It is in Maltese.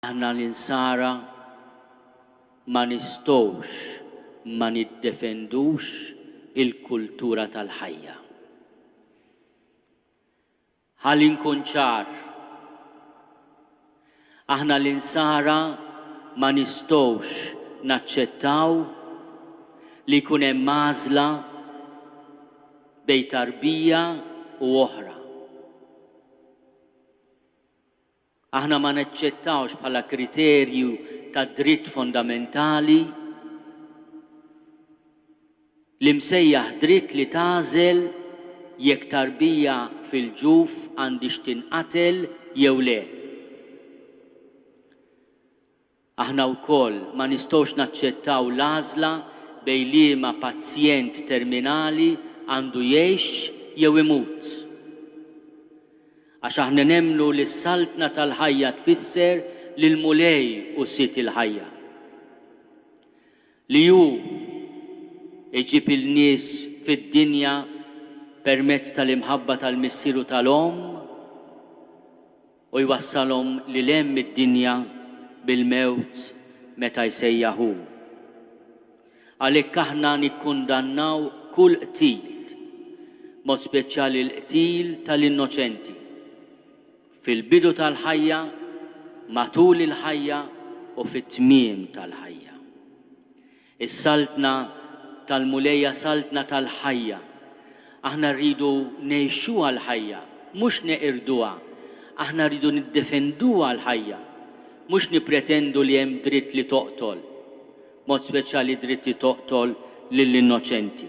Aħna l-Insara ma nistgħux ma niddefendux il-kultura tal-ħajja. Ħa li nkun ċar, aħna l-Insara ma nistgħux naċċettaw li jkun hemm għażla bejn tarbija u oħra. Aħna ma naċċettawx bħala kriterju ta' dritt fondamentali l-imsejjaħ dritt li tagħżel jekk tarbija fil-ġuf għandhiex tinqatel jew le. Aħna wkoll ma nistgħux naċċettaw l-għażla bejn liema pazjent terminali għandu jgħix jew imut. Għax aħna nemmnu li s-saltna tal-ħajja tfisser li l-Mulej hu Sid il-ħajja. Li hu jġib il-nies fid-dinja permezz tal-imħabba tal-Missier u tal-Omm. U jwassalhom lil hemm id-dinja bil-mewt meta jsejjaħ hu. Għalhekk aħna nikkundannaw kull qtil, b'mod speċjali l-qtil tal-innoċenti, fil-bidu tal-ħajja, matul il-ħajja u fit-tmiem tal-ħajja. Is-Saltna tal-Mulej hija Saltna tal-ħajja. Aħna rridu ngħixuha l-ħajja, mhux neqirduha. Aħna rridu niddefenduha l-ħajja, mhux nippretendu li hemm dritt li toqtol, b'mod speċjali dritt li toqtol lill-innoċenti.